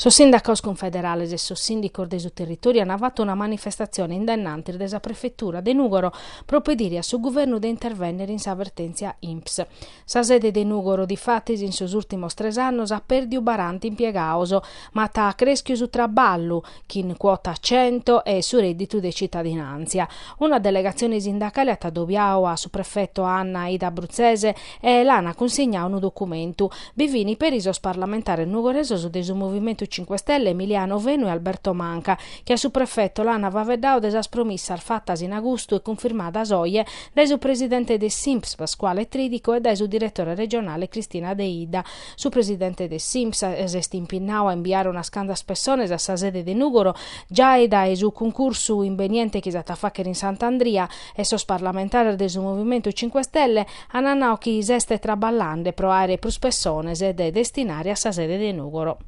Sos sindacados cunfederales e sos sìndicos de su territòriu ant fatu una manifestatzione in dennantis de sa prefetura de Nùgoro pro pedire a su guvernu de intervènnere in sa vertèntzia INPS. Sa sede de Nùgoro difatis in sos ùrtimos tres annos at pèrdiu baranta impiegados, ma at crèschiu su traballu, chin cuota cento, e su rèdditu de citadinàntzia. Una delegatzione sindacale at adobiadu a su prefeto Anna Aida Bruzzese e l'an cunsignadu unu documentu. Bi fin peri sos parlamentares nugoresos de su Movimentu Cinque Stelle Emiliano Fenu e Alberto Manca, chi a su prefeto l'an faeddadu de sas promissas fatas in agustu e cunfirmadas oje dae su presidente de s'INPS Pasquale Tridico e dae su diretore regionale Cristina Deidda. Su presidente de s'INPS s'est impinnadu a imbiare unas cantas pessones a sa sede de Nùgoro giai dae su cuncursu imbeniente chi s'at a fàghere in Sant'Andria e sos parlamentares de su Movimentu Cinque Stelle ant nadu chi s'est traballende pro àere prus pessones de destinare a sa sede de Nùgoro.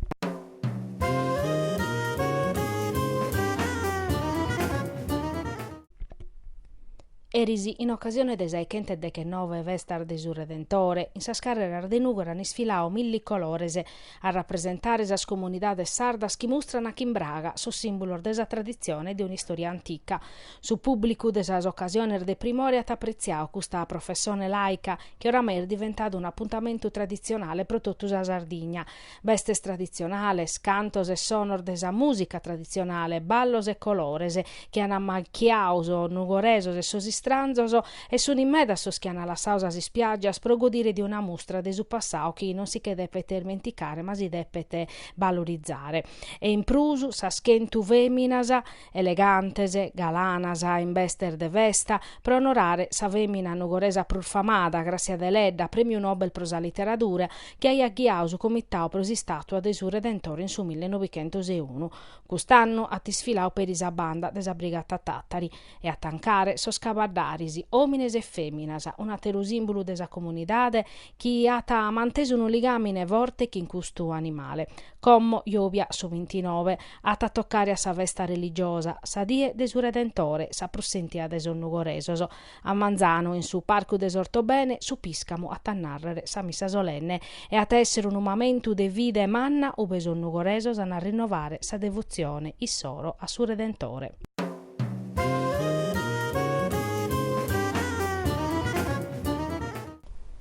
Eris, in ocasione de sa 'e chentu deghenove festas de su Redentore, in sas carreras de Nùgoro an isfiladu milli colores, a rapresentare sas comunidades sardas chi mustran chin braga sos sìmbulos de sa traditzione e de un'istòria antica. Su pùblicu de sas ocasiones de primore at apretziadu custa professone laica chi oramai est diventada un'apuntamentu traditzionale pro totu sa Sardigna, bestes traditzionales, cantos e sonos de sa mùsica traditzionale, ballos e colores chi an ammachiadu sos nugoresos e sos istranzos, e sunt medas sos chi an lassadu sas ispiàgias pro godire de una mustra de su passadu chi non si che depet irmenticare ma si depet balorizare. E in prus sas chentu fèminas elegantes, galanas in bestes de festa, pro onorare sa fèmina nugoresa prus famada, Gràssia Deledda, Prèmiu Nobel pro sa literadura, chi aiat ghiadu su comitadu pro s'istàtua de su Redentore in su mille novichentos e unu. Cust'annu at isfiladu peri sa banda de sa Brigata Tàtari e a tancare sos cabaddaris, òmines e fèminas, un'àteru sìmbulu de sa comunidade, chi at mantesu unu ligàmine forte chin custu animale. Como Jòbia su bintinove at a tocare a sa festa religiosa, sa die de su Redentore, sa prus sentia de sos nugoresos. A manzanu, in su Parcu de s'Ortobene, su pìscamu at a nàrrere sa missa solenne e at a èssere unu mamentu de fide manna ue sos nugoresos an a rinnovare sa devotzione issoro a su Redentore.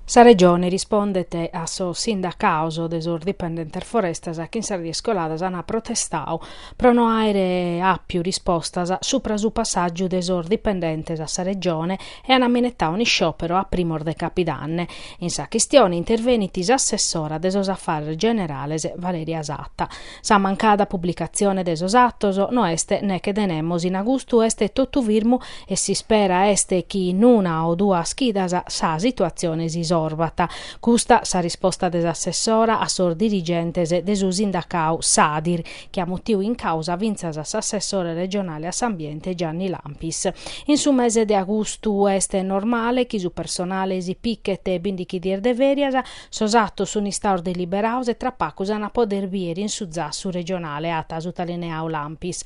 Sa Regione rispondet a sos sindacados de sos dipendentes Forestas chi in sas dies coladas ant protestadu pro no àere àpiu rispostas subra su passàgiu de sos dipendentes a sa Regione e ant minetadu un'isciòperu a primos de capidanne. In sa chistione intervenit s'assessora de sos afares generales Valeria Satta. Sa mancada publicatzione de sos atos no est neche de nemos in agustu est totu firmu e s'ispera est chi in una o duas chidas sa situatzione si isorvat. Custa sa risposta de s'assessora a sos dirigentes de su sindacau Sadir, chi at mutiu in càusa fintzas a s'assessore regionale a s'ambiente Gianni Lampis. In su mese de agustu est normale chi su personale si pichet bindighi dies de fèrias, Sos atos sun istaos deliberaos e tra pagu s'an a poder bier in su zassu regionale, at sutalineau Lampis.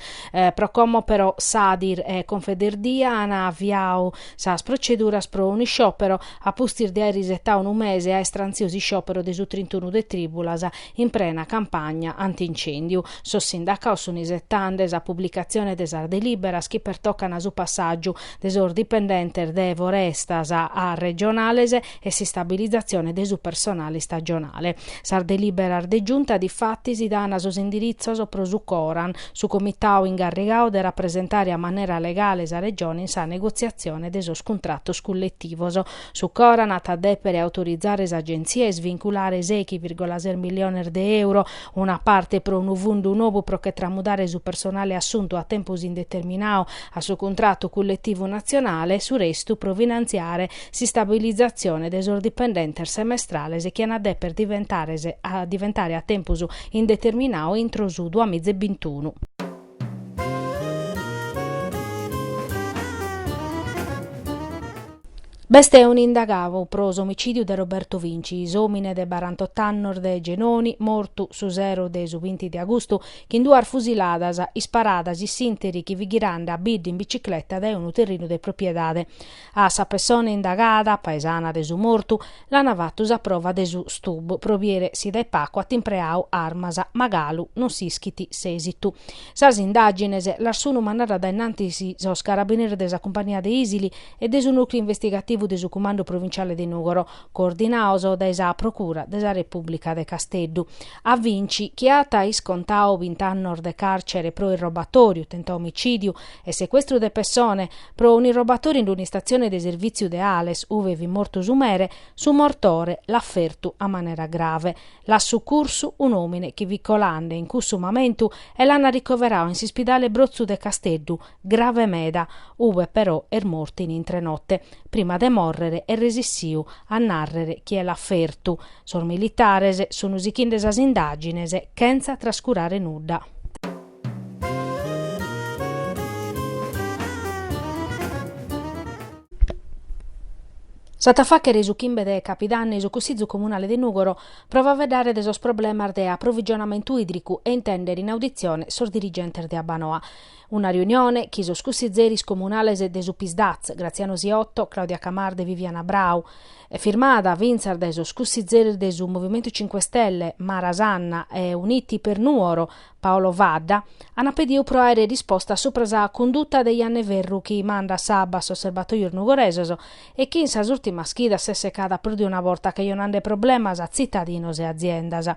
Pro como però Sadir e Confederdia an aviau sas proceduras pro unu isciòpero a pustis de aer isetau unu mese aer trantziu s'isciòpero de su trintunu de trìbulas in prena campagna anti-incèndiu, sos sindacaos sun isetende sa publicatzione de sas delìberas chi pertocan su passàgiu de sos dipendentes de Forestas a regionales e s'istabilizatzione de su personale istagionale. Sas delìberas de Giunta difatis dana sos indiritzos pro su CORAN, su comitadu ingarrigadu de rapresentare a manera legale sa Regione in sa negotziatzione de sos cuntratos culletivos. Su CORAN at a dèpere autorizare s'Agenzia a isvinculare sèichi vìrgola ses miliones de euro, una parte pro unu fundu nou pro che tramudare su personale assuntu a tempus indeterminadu a su cuntratu culletivu natzionale, su restu pro finantziare s'istabilizatzione de sos dipendentes semestrales chi an a deper diventare a tempus indeterminadu intro su duamiza e bintunu. B'est unu indagadu pro s'omicìdiu de Roberto Vinci, s'òmine de barantot'annos de Genoni, mortu su sero de su binti de agustu chin duas fusiladas isparadas in s'ìnteri chi fit ghirande a bidda in bicicleta dae unu terrinu de propiedade. A sa pessone indagada, paesana de su mortu, l'ana fatu sa prova de su stub pro biere si dae pacu at impreadu armas, ma galu non s'ischit s'esitu. Sas indagines las sunu mandande a innantis sos carabineris de sa cumpania de Isili e de su nùcleu investigativu de su Cumandu Provinciale de Nùgoro, coordinados dae sa Procura de sa Repùblica de Casteddu. A Vinci, chi at iscontadu bint'annos de càrcere pro irrobatòriu, tentadu omicìdiu e secuestru de pessone, Pro un'irrobatòriu in un'istatzione de servìtziu de Ales, ue fit mortu su mere, su mortore l'at fertu a manera grave. L'at sucursu un'òmine chi fit colende in cussu mamentu e l'ant arricoveradu in s'ispidale Brotzu de Casteddu, grave meda, ue però est mortu in intre note. Prima de mòrrere est resissiu a nàrrere chie l'at fertu. Sos militares sunt sichende sas indàgines chentza trascurare nudda. S'at a fàghere su chimbe de capidanni su Cussizu Comunale de Nùgoro pro faeddare de sos problemas de aprovigionamentu ìdricu e intèndere in auditzione sos dirigentes de Abbanoa. Una riunione chi sos cussizeris comunales de su Pisdatz, Graziano Siotto, Claudia Camarda e Viviana Brau, firmada fintzas dae sos cussizeris de su Movimentu Cinque Stelle, Mara Sanna e Uniti per Nuoro, Paolo Vadda, ant pediu pro àere risposta subra sa cunduta de Janna 'e Ferru chi mandat s'abba a sos serbatojos nugoresos e chi in sas ùrtimas chidas s'est secada prus de una borta cajonande problemas a tzitadinos e aziendas.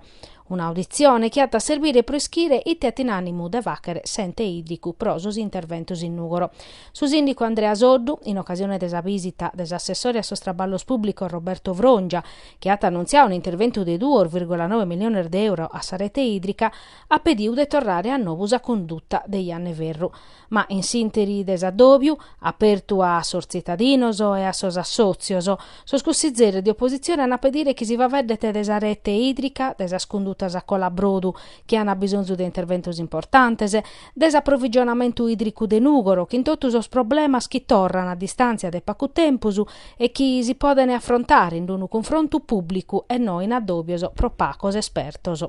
Un'auditzione chi at a serbire pro ischire ite at in ànimu de fàghere s'Ente Ìdricu pro sos interventos in Nùgoro. Su sìndicu Andrea Soddu, in ocasione de sa bìsita de s'assessore a sos traballos pùblicos Roberto Frongia, chi at annuntziadu un'interventu de duos virgola noe miliones de euro a sa rete ìdrica, at pedidu de torrare a novu sa conduta de Janna 'e Ferru, ma in s'ìnteri de s'addòbiu, apertu a sos tzitadinos e a sos assòtzios, sos cussizeris de opositzione ant a pedire chi si faeddet de sa rete ìdrica, de sas condutas a colabrodu, chi ant bisonzu de interventos importantes, de s'aprovigionamentu ìdricu de Nùgoro chin totu sos problemas chi torran a distàntzia de pagu tempus e chi si podent afrontare in unu cunfrontu pùblicu e no in addòbios pro pagos espertos.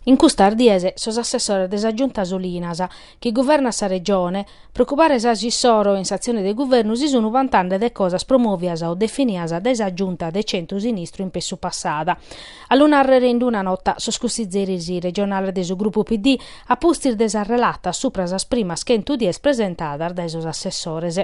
In custas dies sos assessores de sa Giunta Solinas, chi guvernat sa Regione, pro ocupare sas issoro in s'atzione de guvernu si sun vantande de cosas promovias o definias dae sa Giunta de centru-sinistru in pessu passà. A lu nàrrere in una nota sos cussizeris regionales de su grupu PD a pustis de sas relatas subra sas primas chentu dies presentadas dae sos assessores.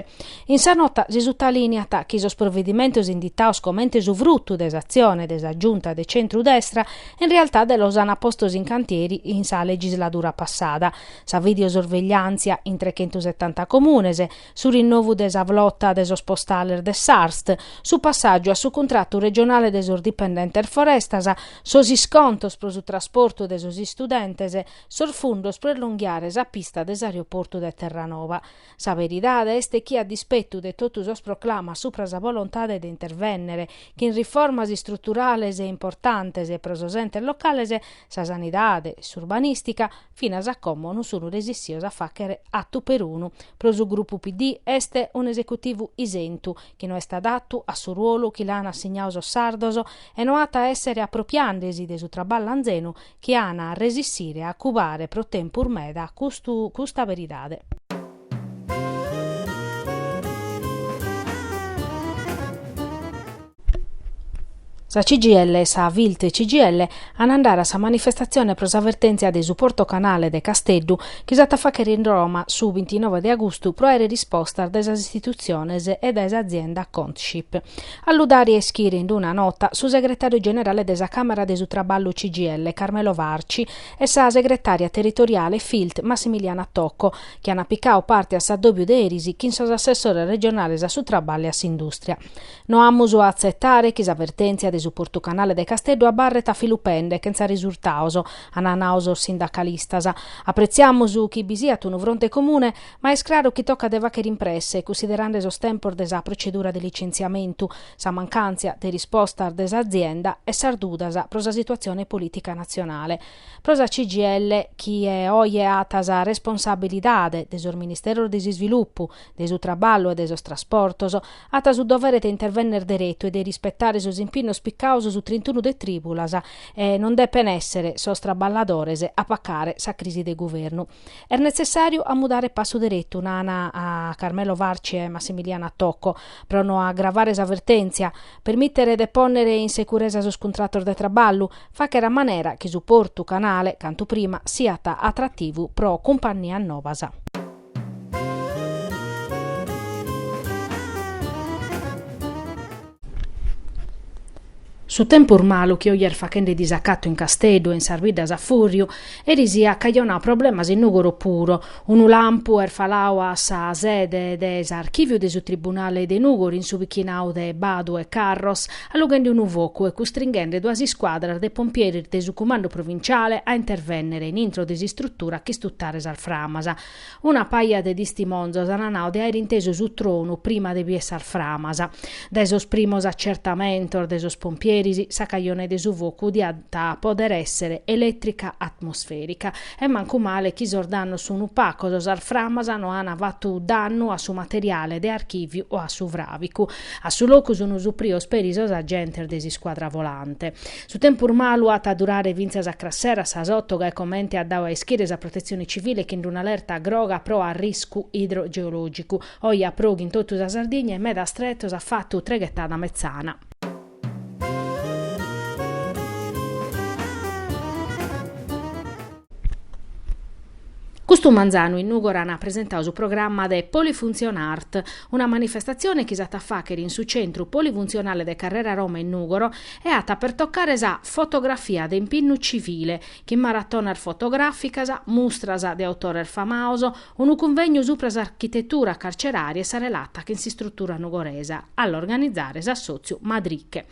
In sa nota si sutalìneat chi sos provedimentos inditados comente su frutu de s'atzione de sa Giunta de centru-destra in realtade los ant postos in cantieri in sa legisladura passada, sa videosorvegliàntzia in trechentusetanta comunes, su rinnovu de sa flota de sos postales de s'Arst, su passàgiu a su cuntratu regionale de sos dipendentes Forestas, sos iscontos pro su trasportu de sos istudentes, sos fundos pro elonghiare sa pista de s'aeroportu de Terranova. Sa beridade est chi a dispettu de totu sos proclamas supra sa volontade de intervènnere chin riformas istruturales e importantes pro sos entes locales, sa sanidade, s'urbanìstica, finas a como non sun resissios a fàghere attu perunu, pro su grupu PD est un'esecutivu isentu, chi no est adatu a su ruolu chi l'an assignadu sos sardos e no at a èssere apropriàndesi de su traballu anzenu chi an a resissire a cubare pro tempus meda custu custa beridade. Sa CGIL e sa Filt CGIL an a andare a sa manifestatzione pro sa vertèntzia de su Porto Canale de Casteddu chi s'at a fàghere in Roma su bintinove de agustu pro àere rispostas dae sas istitutziones e dae s'azienda Contship. A lu dare a ischire in una nota su segretàriu generale de sa Càmara de su Traballu CGIL, Carmelo Farci, e sa segretària territoriale Filt, Massimiliana Tocco, chi at picadu parte a s'addòbiu de eris chin sos assessores regionales a su traballu e a s'indùstria. No amus a atzetare chi sa vertèntzia de su portu canale de Casteddu abarret a filu pende chentza risurtados, an nadu sos sindacalistas. Apretziamus chi bi siat unu fronte comune Ma est craru chi tocat de fàghere in presse, cussiderande sos tempos de sa protzedura de litzentziamentu, sa mancàntzia de rispostas de s'azienda e sas dudas pro sa situatzione polìtica natzionale. Pro sa CGIL, chie oje at sa responsabilidade de sos ministeros de s'isvilupu, de su traballu e de sos trasportos, at su dovere de intervènnere deretu e de rispetare sos impinnos picados su trentunu de trìbulas e non depen èssere sos traballadores a pacare sa crisi de guvernu. Est netzessàriu a mudare passu deretu, nant Carmelo Farci e Massimiliana Tocco, pro no agravare sa vertèntzia, permìtere de pònnere in seguresa sos cuntratos de traballu, fàghere a manera chi su portu canale, cantu prima, siat atrativu pro cumpannias nobas. Su tempus malu chi oje est faghende disacatu in Casteddu e in sas biddas a fùrriu, eris aiat cajonau problemas in Nùgoro puru. Unu lampu est falau a sa sede de s'archìviu de su tribunale de Nùgoro in su pichinau de Badu e Carros, allughende unu focu e custringhende duas iscuadras de pompieris de su cumandu provinciale a intervènnere in intro de s'istrutura a ch'istutare sas framas. Una paja de tistimonzos an nau de aer intesu su tronu prima de bier sas framas. Dae sos primos acertamentos de sos pompieris, sa cajone de su focu diat poder esser eletrica atmosferica. E mancu male chi sos dannos sun pacos, sas framas no an fattu dannu a su materiale de archiviu o a su fravicu. A su locu sun suprios peri sos agentes de s'iscuadra volante. Su tempus malu at a durare fintzas a cras sero a sas oto, gai comente at dadu a ischire sa Protetzione Civile chin d'un'alerta groga pro arriscu idrogeològicu. Oje at pròghiu in totu sa Sardigna e in medas tretos at fatu treghetada metzana. Custu manzanu in Nùgoro an presentadu su programma de Polifunzionart, una manifestatzione chi s'at a fàghere in su Centru Polifunzionale de Carrera Roma in Nùgoro e at a pertocare sa fotografia de impinnu civile, chin maratonas fotogràficas, mustras de autores famaos, unu cunvegnu supra s'architetura carcerària e sa relata chin s'istrutura nugoresa, a l'organizare est s'assòtziu Madriche.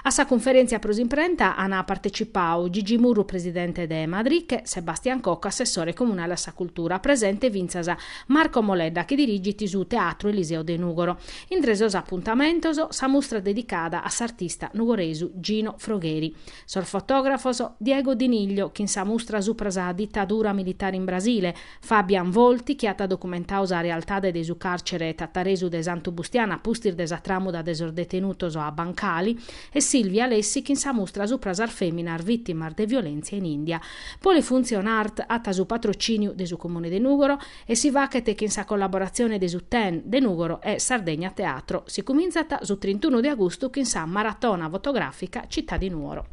A sa cunferèntzia pro s'imprenta an partetzipadu, Gigi Murru presidente de Madriche, Sebastian Cocco assessore comunale a sa cultura, presente fintzas Marco Moledda chi dirigit su Teatru Eliseo de Nùgoro. Intre sos apuntamentos, sa mustra dedicada a s'artista nugoresu Gino Frogheri, sos fotògrafos Diego Di Niglio chin sa mustra supra sa ditadura militare in Brasile, Fabian Volti chi at documentadu sa realtade de su càrcere tataresu de Santu Bustianu a pustis de sa tràmuda de sos detenutos a Bancali e Silvia Alessi chin sa mustra supra sas fèminas vìtimas de violèntzia in India. Polifunzionart at su patrocìniu de su Comune de Nùgoro. E si faghet chin sa collaboratzione de su Ten de Nùgoro e Sardegna Teatro. Si cumintzat su trintunu de agustu chin sa Maratona fotogràfica Città di Nuoro.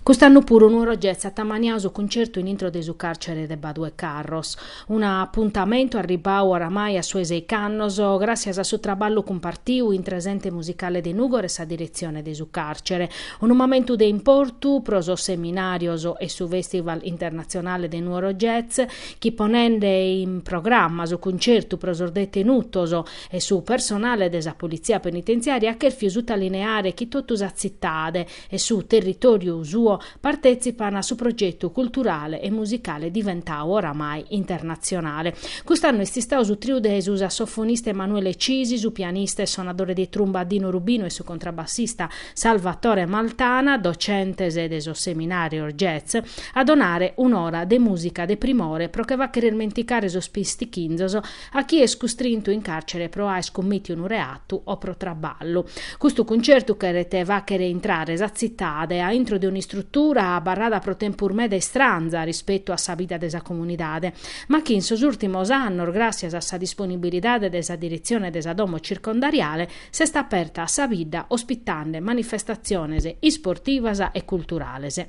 Cust'annu puru Nuoro Jazz at ammaniadu su cuncertu in intro de su càrcere de Badu 'e Carros. Un'apuntamentu arribbau oramai a su 'e seich'annos, gràssias a su traballu cumpartiu intre s'Ente Musicale de Nùgoro e sa diretzione de su càrcere. Unu momentu de importu pro sos seminàrios e su Fèstival internatzionale de Nuoro Jazz, chi ponende in programma su cuncertu pro sos detenutos e su personale de sa Politzia Penitenziària at chèrfiu sutalineare chi totu sa tzitade, e su territòriu suo partetzipant a su progetu culturale e musicale diventadu oramai internatzionale. Cust'annu est istadu su triu de su sassofonista Emanuele Cisi, su pianista e sonadore de trumba Dino Rubino e su contrabassista Salvatore Maltana, docentes de sos seminàrios Jazz, a donare un'ora de mùsica de primore pro che fàghere ismenticare sos pistichinzos a chi est custrintu in càrcere pro aer cummìtiu unu reatu o pro traballu. Custu cuncertu cheret fàghere intrare sa tzitade a intro de un'istrutura abarrada pro tempus meda istranza rispetu a sa vida de sa comunidade, ma chi in sos ùrtimos annos, gràssias a sa disponibilidade de sa diretzione de sa domo circondariale, s'est aperta a sa bidda ospitande manifestatziones isportivas e culturales.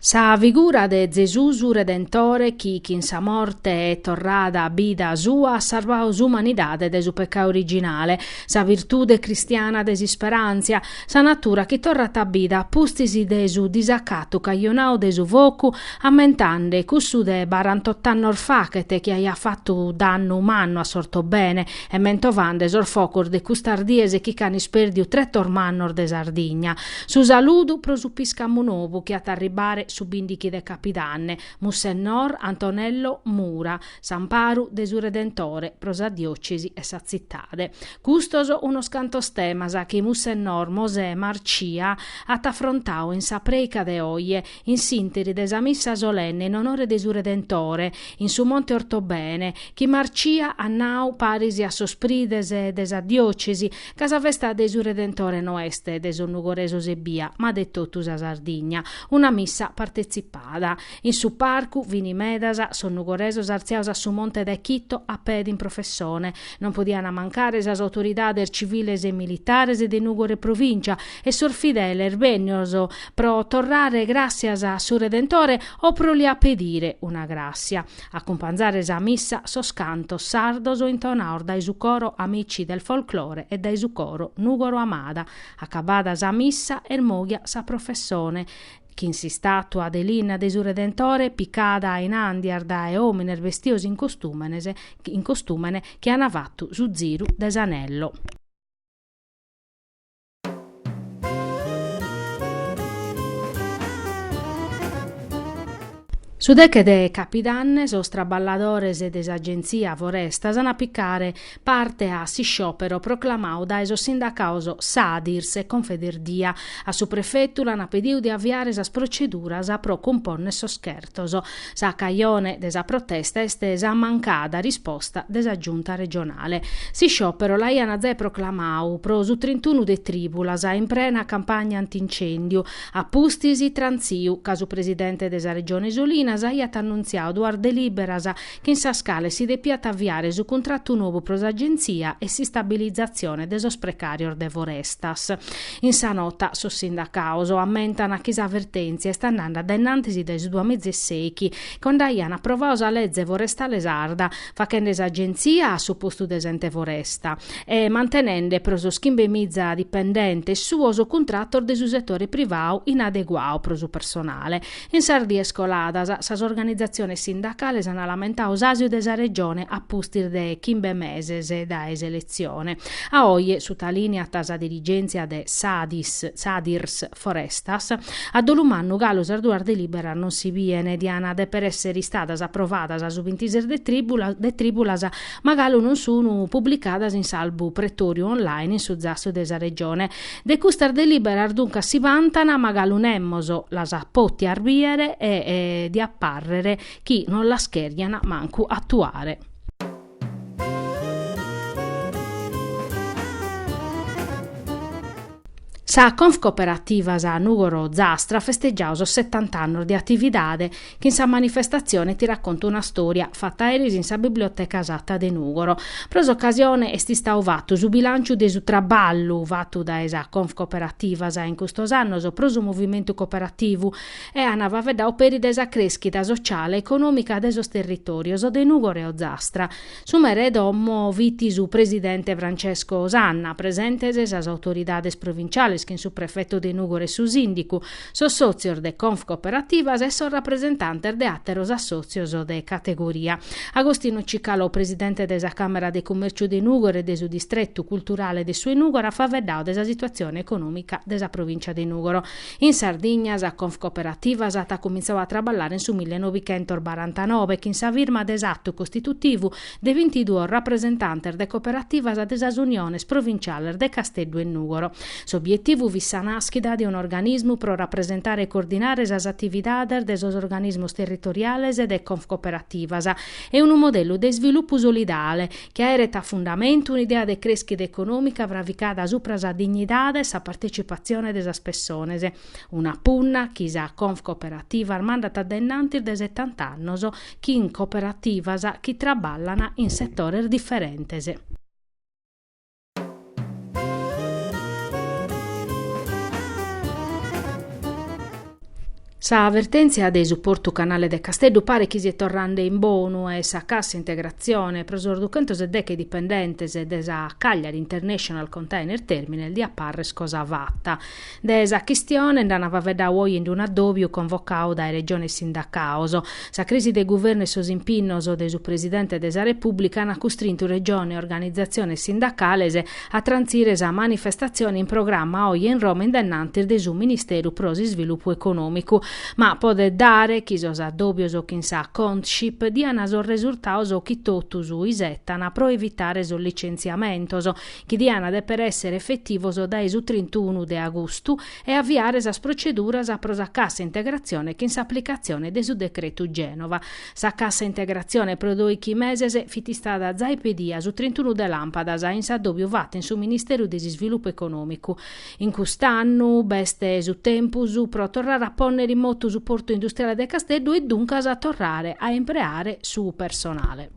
Sa figura de Zesus Redentore chi chin sa morte e torrada a bida sua at sarvadu s'umanidade de su peccau originale, sa virtude cristiana de s'isperantzia, sa natura chi torrat a bida a pustis de su disacatu cajonau de su focu ammentande cussu de barantot'annos fachet chi aiat fattu dannu mannu a s'Ortobene E mentovande sos focos de custas dies chi ch'an ispèrdiu tretos mannos de Sardigna. Su saludu pro su piscamu nobu chi at a arribare su bìndichi de Capidanne, Mussennor Antonello Mura, s'amparu de su Redentore pro sa diòcesi e sa tzitade. Custos unos cantos temas chi Mussennor Mosè Marcia at afrontadu in sa prèica de oje, in s'interi de sa missa solenne in onore de su Redentore, in su Monte Ortobene, chi Marcia at nau paris a sos prides de sa diocesi, ca sa festa de su Redentore no est de sos nugoresos ebbia, ma de totu sa Sardigna, una missa partezipada. In su parcu fini medas sos nugoresos artziados a su monte dae chito a pede in professone, Non podiant mancare sas autoridades civiles e militares de Nùgoro e Provìncia e sos fideles bènnidos pro torrare gràssias a su Redentore o pro li apedire una gràssia. A acumpanzare sa missa sos cantos sardos intonados dae su coro Amici del Folklore e dae su coro Nùgoro Amada. Acabada sa missa est mòghia sa professone. chin s'istàtua de linna de su Redentore picada in àndias dae òmines bestios in costumenes in costumene chi ana fatu su ziru de s'anello. Su deche de capidanne sos traballadores de s'Agenzia Forestas an a picare parte a s'isciòpero proclamadu dae sos sindacados Sadirs e Confederdia. A su prefetu l'ant pedidu de aviare sas proceduras pro cumponner sos chertos. Sa cajone de sa protesta est sa mancada risposta de sa Giunta regionale. S'isciòpero l'aiant giai proclamadu pro su trintunu de trìbulas, in prena campagna anti-incèndiu. A pustis, trantziu ca su presidente de sa Regione Solinas aiat annuntziadu duas delìberas chin sas cales si depiat aviare su cuntratu nobu pro s'agentzia e s'istabilizatzione de sos precàrios de Forestas. In sa nota sos sindacados ammentan chi sa vertèntzia est andende dae in antis dae su duamiza e sèichi, cando aian aprovadu sa leze forestale sarda, faghende s'agentzia a su postu de s'ente foresta e mantenende pro sos chimbemiza dipendentes suos cuntratos de su setore privadu inadeguados pro su personale, In sas dies coladas, sas organizatziones sindacales ant lamentadu s'àsiu de sa Regione a pustis de chimbe meses dae s'eletzione. A oje, sutalìniat sa dirigèntzia de Sadirs Forestas, a dolu mannu galu sas duas delìberas non si biene, diana dèpere èssere istadas aprovadas su bintises de trìbulas, ma galu non sunu publicadas in s'albu pretòriu online in su zassu de sa Regione. De custas delìberas duncas si bantan, ma galu nemos las at pòtias bìere e diat pàrrere chi non las chèrgian mancu atuare. Sa Confcooperativas Nùgoro Ozastra at festegiadu sos setant'annos de atividade Chin sa manifestatzione ti racconto una storia, fatta eris in sa Biblioteca Satta de Nùgoro. Pro s'ocasione est istadu fattu su bilanciu de su trabballu fattu dae sa Confcooperativas in custos annos pro su movimentu cooperativu e an faveddadu peri de sa crèschida sociale e econòmica de sos territorios de Nùgoro e Ozastra. Su mere 'e domo fit su presidente Francesco Sanna, presentes sas autoridades provinciales chin su prefettu de Nùgoro e su sìndicu, sos sòtzios de Confcooperativas e sos rapresentantes de àteros assòtzios de categoria. Agostino Cicalò, presidente de sa Càmera de Cumèrciu de Nùgoro e de su Distretu Culturale de su 'e Nùgoro at faveddadu de sa situatzione econòmica de sa provìncia de Nùgoro. In Sardigna sa Confcooperativas at cumintzadu a traballare in su millenovichentos barantanove chin sa firma de s'atu costitutivu de vintiduos rapresentantes de cooperativas de sas uniones provinciales de Casteddu e Nùgoro. S'obietivu fit sa nàschida de un'organismu pro rapresentare e coordinare sas atividades de sos organismos territoriales e de Confcooperativas e unu modellu de isvilupu solidale chi aeret a fundamentu un'idea de crèschida econòmica fravicada subra sa dignidade e sa partetzipatzione de sas pessones. Una punna chi sa Confcooperativas mandat dae innantis de setant'annos chin cooperativas chi traballan in setores diferentes. Sa vertèntzia de su Portu Canale de Casteddu paret chi siet torrande in bonu e sa cassa integratzione pro sos duchentos e deche dipendentes de sa Cagliari International Container Terminal diat parrer cosa fata. De sa chistione nd'ant faveddau oje in d'unu addòbiu convocau dae Regione e sindacaos. Sa crisi de guvernu e sos impinnos de su Presidente de sa Repùblica ant custrintu Regione e organizatziones sindacales a trantzire sa manifestatzione in programma oje in Roma in dennantis de su Ministeru pro s'Isvilupu Econòmicu. Ma podet dare chi sos addòbios chin sa Contship diant sos resurtados chi totus isettant pro evitare sos licentziamentos, chi diana deper essere effettivos dae su trintuunu de agustu e avviare sas proceduras pro sa cassa integrazione chin s'applicazione de su decretu Genova. Sa cassa integrazione pro doichi meses fit istada zai pedia su trintuunu de lampadas in s'addobiu fattu in su Ministeru de s'Isvilupu Economicu. In cust'annu b'est su tempus pro torrare a ponnere in motu su portu industriale de Casteddu e duncas torrare a impreare su personale.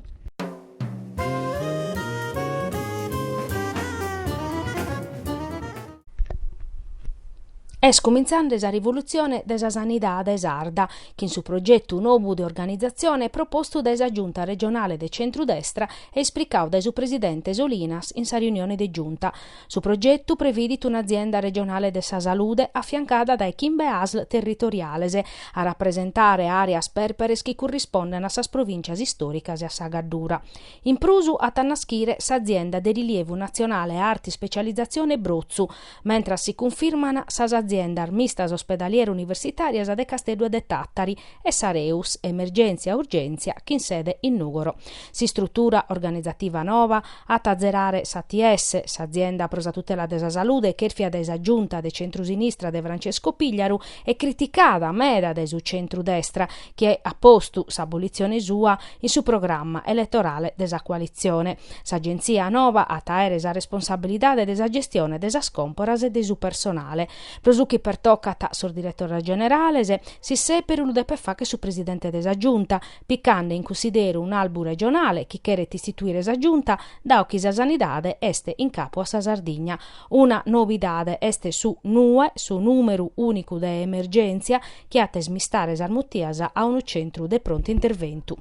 Est cumintzande sa rivolutzione de sa sanidade sarda, chin su progetu nobu de organizatzione propostu dae sa Giunta regionale de centru-destra e esplicadu dae su presidente Solinas in sa riunione de Giunta. Su progetu previdit un'azienda regionale de sa salude afiancada dae chimbe asl territoriales, a rapresentare àreas pèrperes chi currispondent a sas provìncias istòricas e a sa Gaddura. In prus at a naschire s'azienda de rilievu natzionale e arta ispecializzazione Brotzu, mentras si cunfirman sas aziendas mistas ospedaliero-universitàrias de Casteddu e de Tàtari e s'Areus, Emergèntzia-Urgèntzia, chin sede in Nùgoro. S'istrutura organizativa noba at a azerare s'ATS, s'Azienda pro sa Tutela de sa Salude, chèrfia dae sa Giunta de centrusinistra de Francesco Pigliaru e criticada meda dae su centrudestra, chi at postu s'abolitzione sua in su programma eletorale de sa coalitzione. S'Agenzia noba at a àere sa responsabilidade de sa gestione de sas còmporas e de su personale. Pro su chi pertocat sos diretores generales, s'isseperu lu depet facher su Presidente de sa Giunta, picande in cussideru un'albu regionale chi cheret istituire sa Giunta dao chi sa sanidade est in capu a sa Sardigna. Una nobidade est su NUE, su nùmeru ùnicu de emergèntzia, chi at a ismistare sas mutias a unu centru de prontu interventu.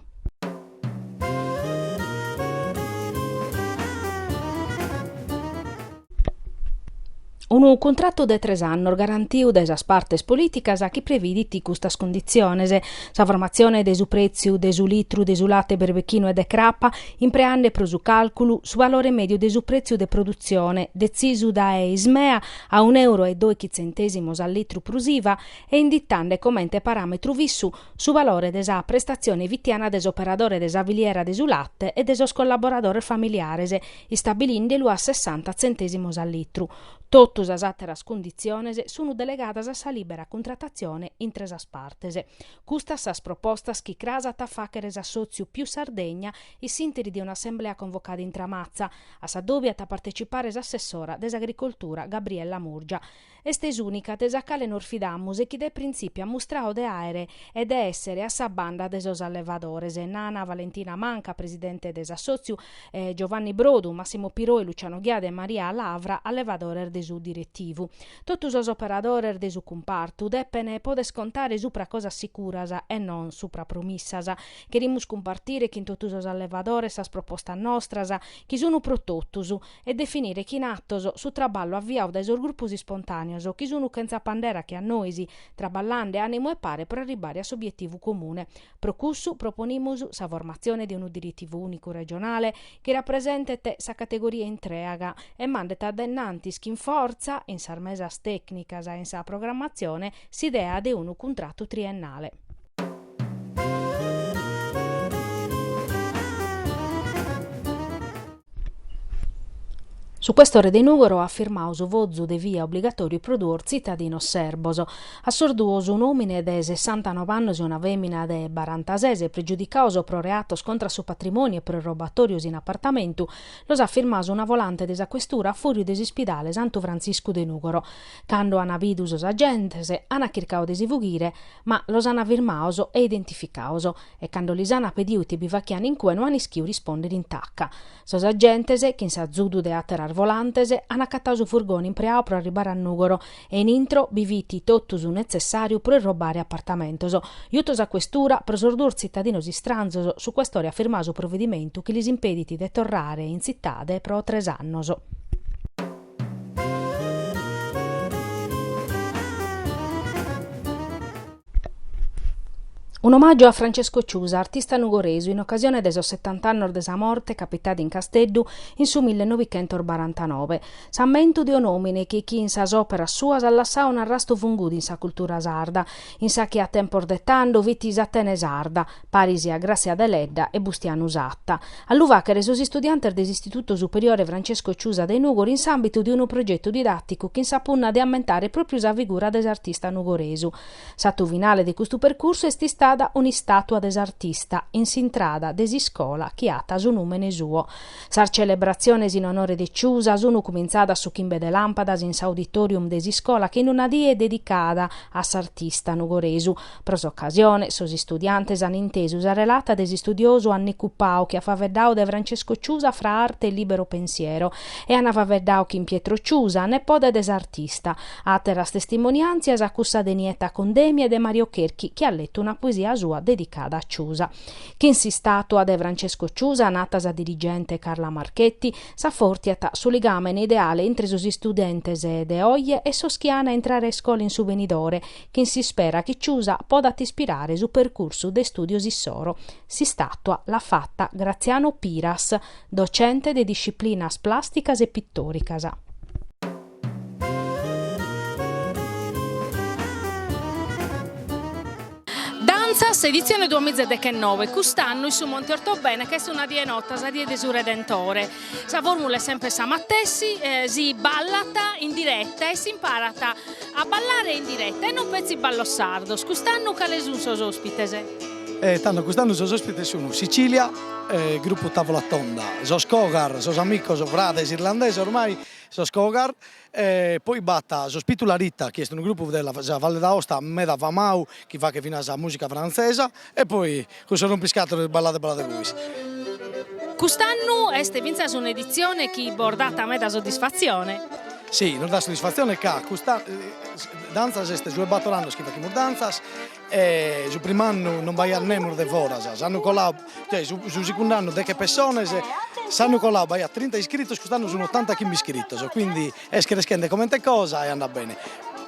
Unu cuntratu de tres annos garantiu dae sas partes polìticas chi previdit custas cunditziones, sa formatzione de su prètziu de su litru de su late berbechinu e de crapa, impreande pro su càlculu su valore mèdiu de su prètziu de produtzione detzisu dae Ismea a un'euro e doichi tzentèsimos a litru prus iva e inditande comente paràmetru fissu su valore de sa prestatzione fitiana de s'operadore de sa filiera de su late e de sos collaboradores familiares istabilinde lu a sessanta tzentèsimos a litru, totu sas àteras cunditziones sunu delegadas a sa lìbera cuntratatzione intre sas partes. Custas sas propostas chi cras at a fàchere s'assòtziu Più Sardegna in s'interi de un'assemblea convocada in Tramatza, a s'adòbiu at a partecipare s'assessora de s'Agricoltura Gabriella Murgia, Est s'ùnica de sa cale nos fidamus e chi de printzipiu at mustradu de àere e de èssere a sa banda de sos allevadores, nana Valentina Manca, presidente de s'assòtziu, e Giovanni Brodu, Massimo Piroi, Luciano Ghiadi e Maria Lavra, allevadores de su diretivu. Totu sos operadores de su cumpartu depene poder contare supra cosas sicuras e non supra promissas. Cherimus cumpartire chin totu sos allevadores sas propostas nostras, chi sun pro totus, e definire chin atos su traballu aviau dae sos grupos ispontàneos chi sunu chentza pandera che a nois, traballande ànimu e pare pro arribbare a s'obietivu comune. Pro cussu proponimus sa formatzione de unu diretivu ùnicu regionale chi rapresentet sa categoria intrèaga e mandet a dae innantis chin fortza, in sas mesas tècnicas e in sa programmatzione, s'idea de unu cuntratu triennale. Su questore de Nùgoro at firmadu su fozu de via obligatòriu pro duos tzitadinos serbos. A sos duos, un'òmine de sessantanove annos e una fèmina de barantases, pregiudicados pro reatos contra su patrimòniu e pro robatòrios in apartamentu, los at firmados una volante de sa questura a fùrriu de s'ispidale Santu Frantziscu de Nùgoro. Cando an bidu sos agentes, an chircadu de si fughire, ma los an firmados e identificados, e cando lis an pedidu ite bi faghian in cue no an ischidu rispòndere in taca. Sos agentes, chin s'azudu de àteras volantes, an acatadu su furgone impreadu pro arribare a Nùgoro e in intro bi fit totu su netzessàriu pro irrobare apartamentos. Jutos a questura, pro sos duos tzitadinos istranzos, su questore at firmadu su provedimentu chi lis impedit de torrare in tzitade pro tres annos. Un'omàgiu a Francesco Ciusa, artista nugoresu, in ocasione de sos setant'annos de sa morte, capitada in Casteddu in su mille novichentos barantanobe. S'ammentu de un'òmine chi chin sas òperas suas at lassadu un'arrastu fungudu in sa cultura sarda, In sa chi a tempos de tando fit s'Atene Sarda, paris a Gràtzia Deledda e Bustianu Satta, a lu fàghere sos istudiantes de s'Istitutu Superiore Francesco Ciusa de Nùgoro in s'àmbitu de unu progetu didàticu chin sa punna de ammentare pròpiu sa figura de s'artista nugoresu. S'atu finale de custu percursu est istada un'istàtua de s'artista in s'intrada de s'iscola chi at su nùmene suo. Sas celebratziones in onore de Ciusa sunu cumintzadas su chimbe de làmpadas in s'auditorium de s'iscola chin una die dedicada a s'artista nugoresu. Pro s'ocasione, sos istudiantes an intesu sa relata de s'istudiosu Annicu Pau chi at faveddadu de Francesco Ciusa fra arte e libero pensiero e an faveddadu chin Pietro Ciusa, nepode de s'artista. Àteras testimoniàntzias a cussa de Nietta Condemi e de Mario Cherchi chi at letu una poesia sua dedicada a Ciusa. Chin s'istàtua de Francesco Ciusa, nata sa dirigente Carla Marchetti, s'afòrtiat su ligàmene ideale intre sos istudentes de oje e sos chi an a intrare a iscola in su benidore, chin s'ispera chi Ciusa podat ispirare su percursu de istùdios issoro. S'istàtua l'at fata Graziano Piras, docente de disciplinas plàsticas e pitòricas. Dantzas, editzione duamiza e dechenobe, Cust'annu in su Monte Ortobene ch'est una die nota sa die de su Redentore. Sa fòrmula est semper sa matessi, si ballat in direta e s'imparat a ballare in direta e non petzi ballos sardos. Cust'annu cales sunt sos òspites? E tando cust'annu sos òspites sunt Sicilia, gruppu Tavola Tonda, sos Cogar, sos amicos frades irlandesos ormai, Sos Cogar, e poi b'at sos Pitularita chi est unu grupu de sa Valle d'Aosta meda famau chi fachet finas musica frantzesa e poi cussos rompiscatoles Ballade Ballade Bois. Cust'annu est fintzas un'editzione chi bos dat meda soddisfatzione. Si, nos dat soddisfatzione ca custa dantzas est su 'e bator annos chi fachimus dantzas, E su prim'annu non b'aiat nemus de foras, s'annu colau, cioè su su sicundu annu deche pessones, s'annu colau b'aiat trinta iscritos, cust'annu sun ottantachimbe iscritos, quindi est creschende comente cosa e andat bene,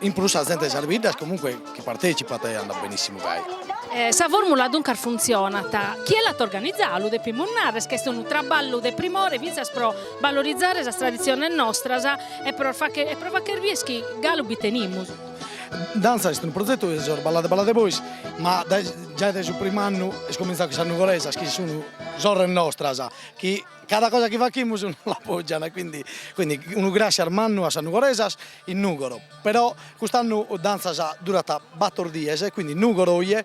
in prus sa zente de sas biddas comunque chi partecipat e andat benissimu gai. Sa formula duncas funtzionat, chie l'at organizau lu depimus narrer ch'est unu traballu de primore fintzas pro valorizare sas traditziones nostras e pro facher bider chi galu bi tenimus. Danzas est unu prozetu de sos Ballade Ballade Bois, ma giai dae su prim'annu est comintzau chin sas Nugoresas chi sun sorres nostras chi cada cosa chi fachimus nos l'appoggian e quindi quindi unu grassias mannu a sas Nugoresas in Nugoro, però cust'annu Danzas durat bator dies e quindi Nugoro oje